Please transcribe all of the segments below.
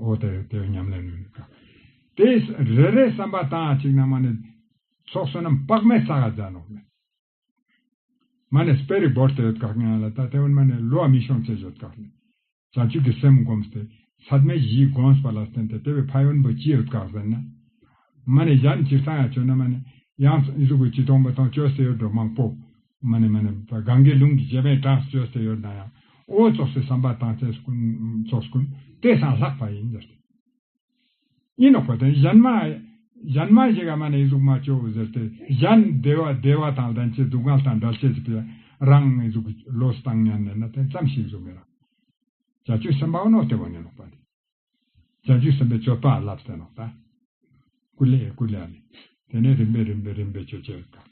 ཨོ་དེ་དེ་ཉམས་ལེན་ནུས་ཀྱི། དེ་རེ་རེའི་བསམ་པ་དང་གཅིག་ན་མ་ནི། ཚོགས་བསོད་ནམས་དཔག་མེད་ས་ག་འཛག་ནོག་མེད། མ་ནི་སྤེལ་རིགས་བོར་ཏེ་ཡོད་དཀའ་ངན་ལ་ད་དེ་བོར་མ་ནི་ལུས་བ་མི་ཤོང་ཚད་ཡོད་དཀའ་ལས། བྱང་ཆུབ་ཀྱི་སེམས་བསྒོམས་སྟེ་ཚད་མེད་བཞིའི་དགོངས་པ་ལ་བརྟེན་ཏེ་དེ་བས་ཕ་ཡོན་པོ་ཅི་ཡོད་དཀའ་ཟེར་ན། མ་ནི་གཞན་གྱིས་ས་ཡང་བྱོན་ན་མ་ནི། ཡང་གཟུགས་ཀྱི་སྤྱི་སྟོང་པ་དང་སྤྱོད་སའི་ཡོད་འགྲོ་མང་པོ། མ་ནི་མ་ནི། གངྒཱའི་ཀླུང་གི་བྱེ་མའི་གྲངས་སུ་བཅོས་སེ་ཡོར་དཱན་ཡང། ཨོའི་ཚོགས་སུ་བསམ་པ་དང་ཚེས་ཀུན། ཚོགས་སུ་ཀུན། ཏེ་སང་ལྷག་པ་ཡིན། ཟེར་ཏེ། གཉིས་ནི་གོ་དོན་གཞན་མ། གཞན་མ་ཞིག་ག་མ་ནི་ཨི་གཟུགས་མ་བཅོའོ་ཟེར་ཏེ། གཞན། བདེ་བ་བདེ་བ་དང་ལྡན་ཕྱིར་སྡུག་བསྔལ་དང་འདྲ་བྱེད་ཅེས་པའི། རང་ཨི་གཟུགས་ཀྱི་བློས་བཏང་སྙམ་ནས་ན་དེ་ཙམ་ཞིག་གཟུགས་མེད་ལ། བྱ་སྤྱོད་སེམས་དཔའ་བ་ནོ་སྟེ་བ་ནི་ལོག་པ་སྟེ། བྱ་བྱེད་གསུམ་པའི་སྤྱོད་པ་བསླབ་བསལ་ལགས་པ། ཀུ་ལེ་ཨེ་ཀུ་ལེ་ཨཱ་ལི། དེ་ནས་རིམ་པས་རིམ་པས་རིམ་པས་སྤྱོད་བྱེད་དང།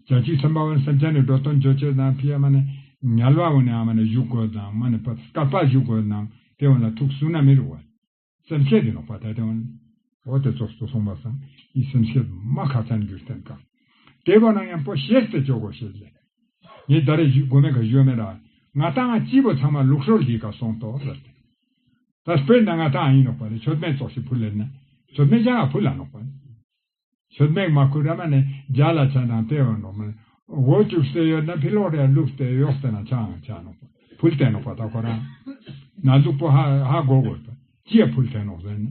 བྱ་བྱེད་གསུམ་པ་བ་ནི་སེམས་ཅན་ནི་འགྲོ་དོན་སྤྱོད་བྱེད་དང་ཕི་ཡ་མ་ནི་ཉལ་བ་བ་ནི་ཨ་མ་ནི་བཞུགས་དགོས་དང་མ་ནི་བ་སྐ་པ་བཞུགས་དགོས་དང་དེ་བ་ལ་ཐུགས་སུ་ན་མི་རུ་བ། སེམས་བསྐྱེད་དེ་ལོག་པ་ད་དེ་བ་ནི། འོ་དེ་ཚོ་སོ་སོང་བ་སམ་ཡིད་སེམས་ཤེད་མ་ཁ་ཚ་འགྱུར་བསྟན་དཀའ། དེ་བ་ན་ཡང་པོ་ཤེས་ཏེ་ཅོག་གོ་ཤེས་ལེ། ངས་ད་རེས་བཞུགས་དགོས་མེད་ག་བཞོས་མེད་ར། ང་ད་ང་སྐྱིད་པོ་ཚང་མ་ལུགས་སྲོལ་གྱིས་ག་སོང་ཏོ་ལ་ཏེ། ད་སྤོས་ན་ང་ད་ཨ་ཡིན་ནོག་པ་ལས་ཆོལ་མེད་ཙོག་ཤི་བུ་ལས་ནས་ཆོལ་མེད་ཅང་ཨ་བུ་ལ་ནོག་པ་ལས། ཆོལ་མེད་མ་ཁུ་ར་མ་ནས་རྒྱ་ལ་ཆ་དང་པེ་བ་ནོག་མ་ལས་འོ་བཅུག་སེ་ཡོད་ན་ཕི་ལོག་རེ་ལུག་སྟེ་ཡོག་སེ་ན་ཆའང་ཆ་ནོག་པ་བུལ་ཏེ་ནོག་པ་ད་ཁོ་རང་ན་ལུག་པོ་ཧ་ཧ་གོ་གོ་ལ་ཏེ་ཅི་ཡ་བུལ་ཐེ་ནོག་ཟེར་ནས་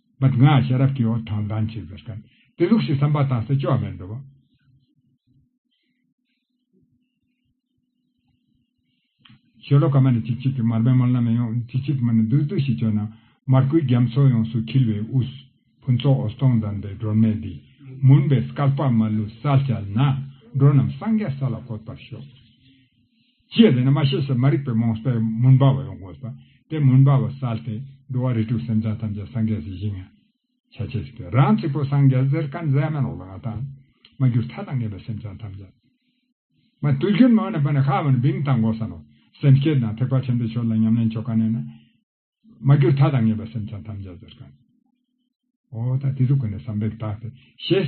པད་སྔགས་ཤེས་རབ་ཀྱི་འོད་དང་ལྡན་བྱེད་ཟེར་དོན་དེ་ལུགས་ཞེས་བསམ་པ་དང་སྲིད་ཕྱོགས་མེད་འགྲོ་བ། ཞེས་ལོ་ག་མ་ནས་ཅིག་ཅིག་གིས་མར་པའི་མར་ལམ་ཡང་ཡང་ཅིག་ཅིག་གིས་མར་ནས་རྡུལ་རྡུལ་ཞེས་བྱོན་ན་མར་ཁུའི་རྒྱ་མཚོ་ཡོངས་སུ་འཁྱིལ་བའི་དབུས། ཕུན་ཚོགས་འོད་སྟོང་ལྡན་པའི་སྒྲོན་མེ་འདིས་མུན་པའི་སྐལ་པ་མ་ལུས་བསལ་བྱས་ན་འགྲོ་རྣམས་སངས་རྒྱས་ས་ལ་འཁོད་པར་ཤོག། ཅེས་ཟེར་ན་མ་ཤེས་ཤེས་མ་རིག་པའི་རྨོངས་པས་མུན་པ་བ་ཡོངས་བསྒོ་ས་དེ་མུན་པ་བ་བསལ་ཏེ་འགྲོ་བ་རིས་དྲུག་སེམས་ཅན་ཐམས་ཅད་སངས་རྒྱས་སུ་བཞེངས། བྱ་བྱེད་ཚིག་པས་རང་ཚིག་པོ་སངས་རྒྱས་ཟེར་ཀ་མཛད་མ་ལོག་ལ་ང་དང། མ་གྱུར་མཐའ་དང་ངེས་པའི་སེམས་ཅན་ཐམས་ཅད། མ་ཏུ་གྱུར་མ་བ་ན་བ་ན་ཤ་བ་ན་བིང་དང་འགོག་ས་ནོ། སེམས་བསྐྱེད་དང་ཐེག་པ་ཆེན་པོའི་ཆོས་ལ་ཉམས་ལེན་ཆོ་ག་གནས་ན། མ་གྱུར་མཐའ་དང་ངེས་པའི་སེམས་ཅན་ཐམས་ཅད་ཟེར་ཀ་ནས། འོ་ད་དེ་ཚུགས་ཀ་ནས་བསམ་པས་བརྟགས་ཏེ་ཞེས།